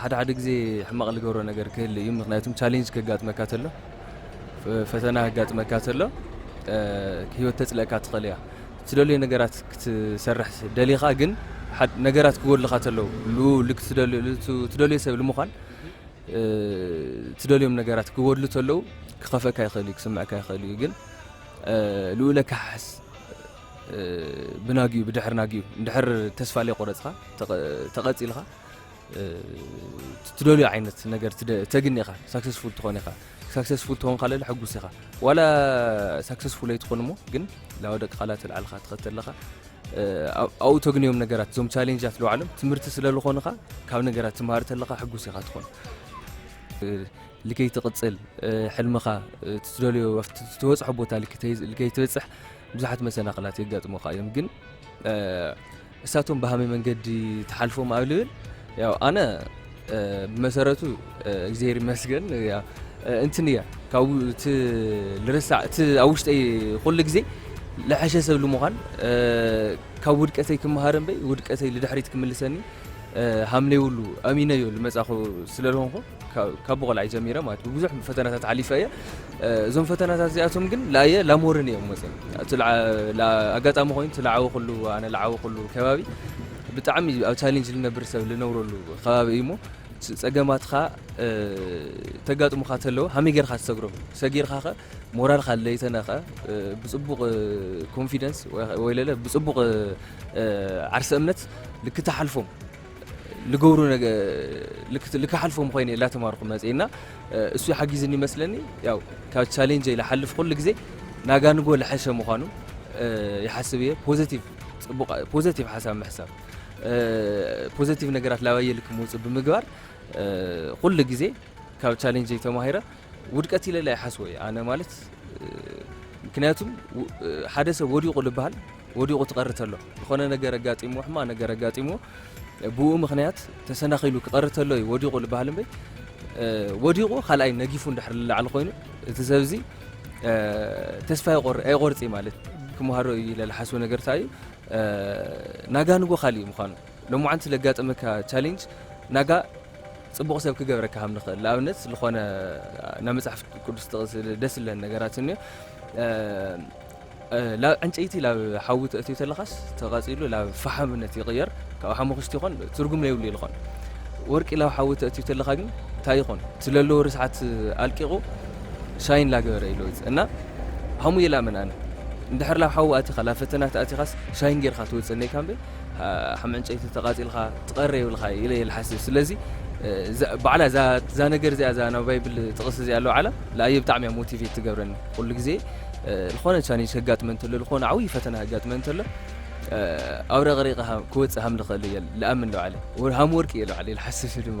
ሓደ ሓደ ግዜ ሕማቕ ልገብሮ ነገር ክህል እዩ ምክንያቱም ቻሌንጅ ከጋጥመካ ተሎ ፈተና ከጋጥመካ ተሎ ህይወት ተፅለእካ ትኽእል እያ ትደልዮ ነገራት ክትሰርሕ ደሊኻ ግን ነገራት ክጎድልኻ ተለው ትደልዮ ሰብ ልምዃን ትደልዮም ነገራት ክጎድሉ ተለው ክኸፈካ ይኽእል እዩ ክስምዕካ ይኽእል እዩ ግን ልኡለ ካሓሕስ ብናጊኡ ብድሕሪ ናጊኡ እንድሕር ተስፋ ዘይቆረፅኻ ተቐፂልኻ ትደልዮ ዓይነት ነገር ተግኒ ኢኻ ሳክሰስፉል ትኾን ኢኻ ሳክሰስፉል ትኾን ካለለ ሕጉስ ኢኻ ዋላ ሳክሰስፉል ኣይትኾን እሞ ግን ላው ደቂ ቃላት ልዓልኻ ትኸተ ኣለኻ ኣብኡ ተግንዮም ነገራት እዞም ቻሌንጃት ለባዕሎም ትምህርቲ ስለ ዝኾንኻ ካብ ነገራት ትምሃር ተለኻ ሕጉስ ኢኻ ትኾን ልከይ ትቕፅል ሕልምኻ ትደልዮ ትበፅሖ ቦታ ልከይ ትበፅሕ ብዙሓት መሰናኽላት የጋጥሙኻ እዮም ግን እሳቶም ብሃመይ መንገዲ ትሓልፎም ኣብ ልብል ያው ኣነ ብመሰረቱ እግዚኣብሔር ይመስገን እንትን እያ ካብ እቲ ልርሳዕ እቲ ኣብ ውሽጠይ ኩሉ ግዜ ልሐሸ ሰብ ልምዃን ካብ ውድቀተይ ክመሃር እምበይ ውድቀተይ ልድሕሪት ክምልሰኒ ሃምነይብሉ ኣሚነዮ ልመጻኹ ስለ ዝኾንኩ ካብ ብቆልዓይ ጀሚረ ማለት ብብዙሕ ፈተናታት ሓሊፈ እየ እዞም ፈተናታት እዚኣቶም ግን ላየ ላሞርን እዮም መፅኦም ኣጋጣሚ ኮይኑ እቲ ላዓወክሉ ኣነ ላዓወክሉ ከባቢ ብጣዕሚ ኣብ ቻሌንጅ ልነብር ሰብ ልነብረሉ ከባቢ እዩ እሞ ፀገማትካ ተጋጥሙካ ተለዎ ሃመይ ጌርካ ትሰግሮም ሰጊርካ ከ ሞራልካ ለይተነኸ ብፅቡቕ ኮንፊደንስ ወይ ለለ ብፅቡቕ ዓርሰ እምነት ልክተሓልፎም ልገብሩ ነገ ልክ- ልክሓልፎም ኾይነ እላተማርኹ መፅኤ እና እ፣ እሱ ሓጊዝኒ ይመስለኒ ያው ካብ ቻሌንጀይ ልሓልፍ ኩሉ ግዜ ናጋንጎ ልሐሸ ምዃኑ እ፣ ይሓስብ እየ ፖዘቲቭ ፅቡቕ ፖዘቲቭ ሓሳብ ምሕሳብ እ፣ ፖዘቲቭ ነገራት ላባየ ልክ ምውፅእ ብምግባር እ፣ ኩሉ ግዜ ካብ ቻሌንጀይ ተማሂረ ውድቀት ኢለ ኣይሓስቦ እየ ኣነ ማለት ምክንያቱ ሓደ ሰብ ወዲቑ ልበሃል ወዲቑ ትቐሪ ተሎ ዝኾነ ነገር ኣጋጢምዎ ሕማ ነገር ኣጋጢምዎ ብኡ ምክንያት ተሰናኺሉ ክቐሪ ተሎ እዩ ወዲቑ ልበሃል እምበይ ወዲቑ ካልኣይ ነጊፉ እንድሕር ልላዕሊ ኮይኑ እቲ ሰብ እዚ ተስፋ ኣይቆርፅ ማለት ክምሃሮ እዩ ኢለ ዝሓስቦ ነገር እንታይ እዩ ናጋንጎ ካልእ እዩ ምዃኑ ሎምዓንቲ ለጋጠመካ ቻሌንጅ ናጋ ጽቡቕ ሰብ ክገብረካ ከም ንኽእል ንኣብነት ልኾነ ናብ መጽሓፍ ቅዱስ ጥቕስ ደስ ዝለን ነገራት እንዮ ላብ ዕንጨይቲ ላብ ሓዊ ተእትዮ ተለኻስ ተቓጺሉ ላብ ፈሓምነት ይቕየር ካብ ሓሙኽሽቲ ይኾን ትርጉም ለይብሉ ይልኾን ወርቂ ላብ ሓዊ ተእትዮ ተለኻ ግን እንታይ ይኾን ስለለዎ ርስሓት ኣልቂቑ ሻይን ላገበረ ኢሎ እና ሃሙ የላምን ኣነ እንድሕር ላብ ሓዊ ኣቲኻ ላብ ፈተና ተኣቲኻስ ሻይን ጌርካ ትወጽእ እኔካ እምበይ ከም ዕንጨይቲ ተቃጺልካ ትቀሪ የብልካ ኢለ እየ ልሓስብ ስለዚ ባዕላ እዛ ነገር እዚኣ እዛ ናብ ባይብል ጥቅስ እዚኣ ለውዓላ ለኣየ ብጣዕሚ እያ ሞቲቬት ትገብረኒ ኩሉ ግዜ ዝኾነ ቻሌንጅ ከጋጥመ እንተሎ ዝኾነ ዓብይ ፈተና ከጋጥመ እንተሎ ኣብረቅሪቀ ክወጽእ ሃም ልኽእል እየ ልኣምን ለውዓለ ሃም ወርቂ እየ ለውዓለ ልሓስብ ድማ